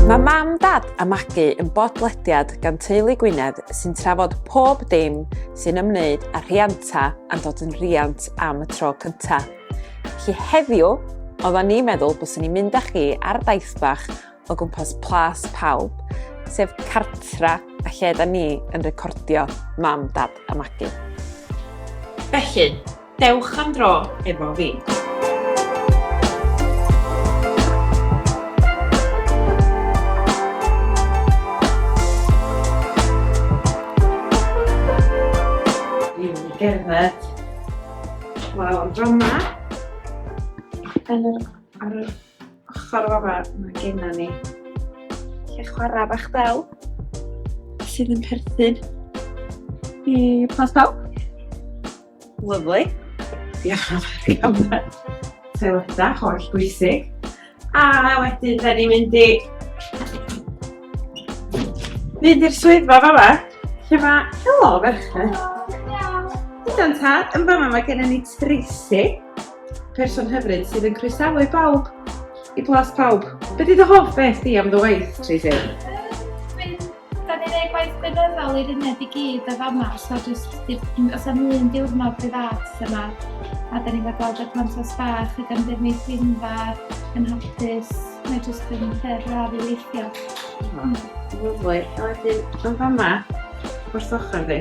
Mae Mam, Dad a Magi yn bodlediad gan Teulu Gwynedd sy'n trafod pob dim sy'n ymwneud â rhianta a'n dod yn riant am y tro cyntaf. Felly heddiw, oedda ni'n meddwl byswn ni'n mynd â chi ar daith bach o gwmpas plas pawb, sef cartra a lle da ni yn recordio Mam, Dad a Magu. Felly, dewch am dro efo fi. Gerdded. Wel, am dro yma. Ar yr ochr fama, mae genna ni lle chwarae bach del sydd yn perthyn i Plas Pawb. Lyflu. Diolch yn fawr i gamau. Toileta, holl bwysig. A wedyn, da ni'n mynd i... Mynd i'r swyddfa fama, lle mae... Helo, ferched. Helo. Hydon tad, yn fama mae gennym ni Tracy. person hyfryd sydd yn croesawu bawb i blas pawb. Be di dy hoff beth di am dy waith, Tracy? Da ni'n ei gwaith gweinyddol i'r uned i gyd o fama, so jyst os am un diwrnod bydd at yma, a da ni'n gweld y plant os bach ac am ddim ei sgrinfa yn hapus, mae jyst yn lle braf i weithio. Lyfli, a wedyn yn fama, wrth ochr fi,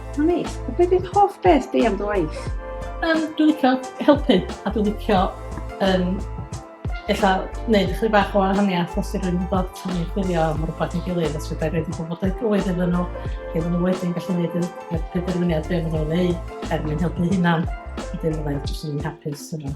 Mae'n neis. A beth yw'ch hoff beth di am dy waith? Um, dwi'n licio helpu a dwi'n licio um, illa wneud chyd bach o wahaniaeth os yw'n rhywun dod tan ei chwilio am rhywbeth yn gilydd os yw'n rhaid i bobl yn gywir iddyn nhw lle maen nhw wedyn gallu gwneud y penderfyniad be maen nhw'n ei er mwyn helpu hynna. Wedyn fydda i'n jyst yn hapus yna.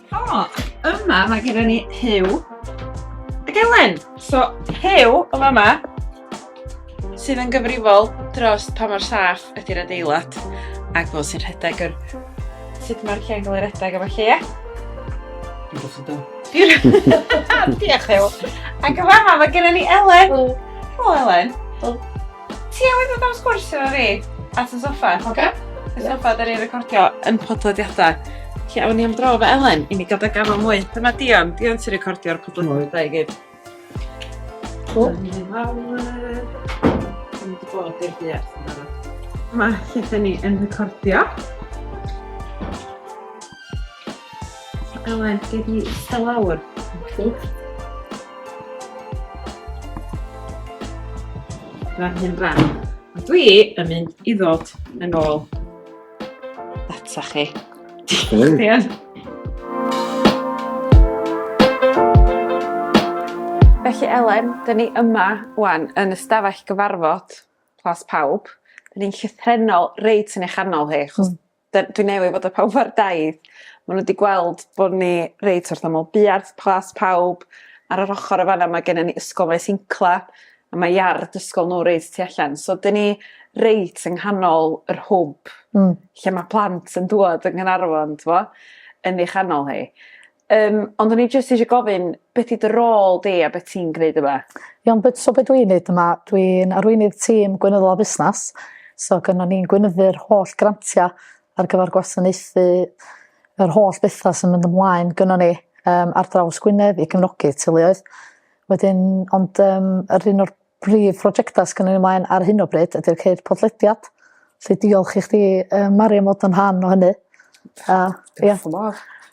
O, yma mae gyda ni Hyw ac Elen. So, Hyw o fama sydd yn gyfrifol dros pa mor saff ydy'r adeilad ac fel sy'n rhedeg yr... sut mae'r lle'n cael ei rhedeg efo lle, ie? Diolch yn dod. Diolch Hyw. Ac yma mae gyda ni Elen. Helo Elen. Ti newydd ddod am sgwrs efo fi at y soffa. Cofio? Y soffa da ni recordio yn podlediadau. Lle awn ni am dro efo Elen i ni gael dy gafel mwy. Dyma Dion. Dion sy'n recordio'r podlediadau i gyd. Cool. Dyna ni fawr. Dyna ni wedi bod i'r buarth yn barod. Mae lle da ni yn recordio. Elen, gei di ista lawr. Fan hyn ran. A dwi yn mynd i ddod yn ôl data chi. Diolch, Dian. Felly Elen, dyn ni yma wan yn ystafell gyfarfod Plas Pawb. Dyn ni'n llythrenol reit yn eich anol hi, chos mm. 'dyn dwi newydd fod â pawb ar daith ma' n'w 'di gweld bo' ni reit orthomal buarth plas pawb ar yr ochor y' fan 'na ma' gennon ni ysgol Maes Incla a ma' iard ysgol n'w reit tu allan so 'dyn ni reit yng nghanol yr hwb... Hmm. ...lle ma' plant yn dŵad yng Nghanarfon t'mo yn ei chanol hi. Yym ond o'n i jyst isio gofyn be' 'di dy rôl di a be' ti'n gneud yma? Iawn be' so be' dwi neud yma dwi'n arweinydd tîm gweinyddol a busnas so gynnon ni'n gweinyddu'r holl grantia ar gyfar gwasanaethu yr holl betha sy'n mynd ymlaen gynnon ni yym ar draws Gwynedd i gefnogi teuluoedd wedyn ond yym yr un o'r Prif brojectau sy gynnon ni mlaen ar hyn o bryd ydy'r ceir podlediad. Felly diolch i chdi um, Mari am fod yn rhan o hynny. A, ia.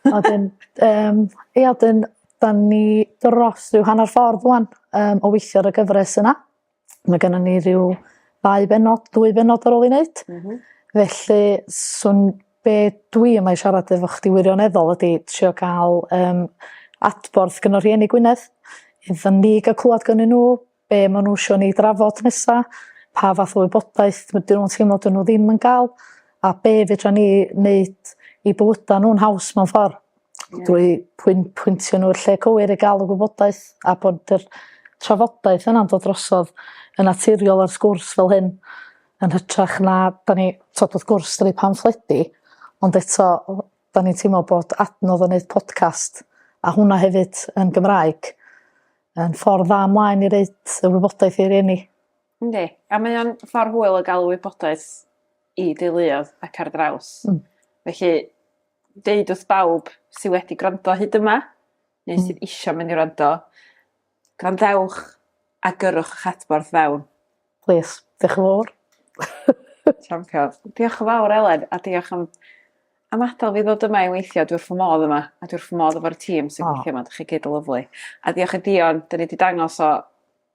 A dyn, um, ia, dyn, da ni dros rhyw hanner ffordd rwan um, o weithio ar y gyfres yna. Mae gennym ni rhyw ddau benod, dwy benod ar ôl i wneud. Mm -hmm. Felly, swn be dwi yma i siarad efo chdi wirioneddol ydi trio ca'l yym adborth gyn y rhieni Gwynedd iddo ni ga'l clwad gynnyn n'w be' ma' n'w isio ni drafod nesa pa fath o wybodaeth ma' dyn nw'n teimlo dyn n'w ddim yn ga'l a be' fedran ni neud i bywyda n'w yn haws mewn ffor. Ie. Drwy pwyn- pwyntio n'w i'r lle cywir i ga'l y gwybodaeth a bod yr trafodaeth yna'n dod drosodd yn naturiol a'r sgwrs fel hyn yn hytrach na 'dan ni t'od wrth gwrs 'dan ni pamffledi ond eto o- 'dan ni'n teimlo bod adnodd o neud podcast a hwnna hefyd yn Gymraeg yn ffordd dda mlaen i roid y wybodaeth i rieni. Yndi. A mae o'n ffordd hwyl o ga'l wybodaeth i deuluodd ac ar draws. Hmm. Felly deud wrth bawb sy wedi gwrando hyd yma, neu sydd hmm. isio mynd i wrando, gwrandewch a gyrwch eich adborth fewn. Please, diolch yn fawr. Champion. Diolch yn fawr, Elen, a diolch am, am adael fi ddod yma i weithio. Dwi wrth fy modd yma, a dwi wrth fy modd efo'r tîm sy'n oh. gweithio yma. Dych chi gyd yn lyflu. A diolch i Dion, dyn ni wedi dangos o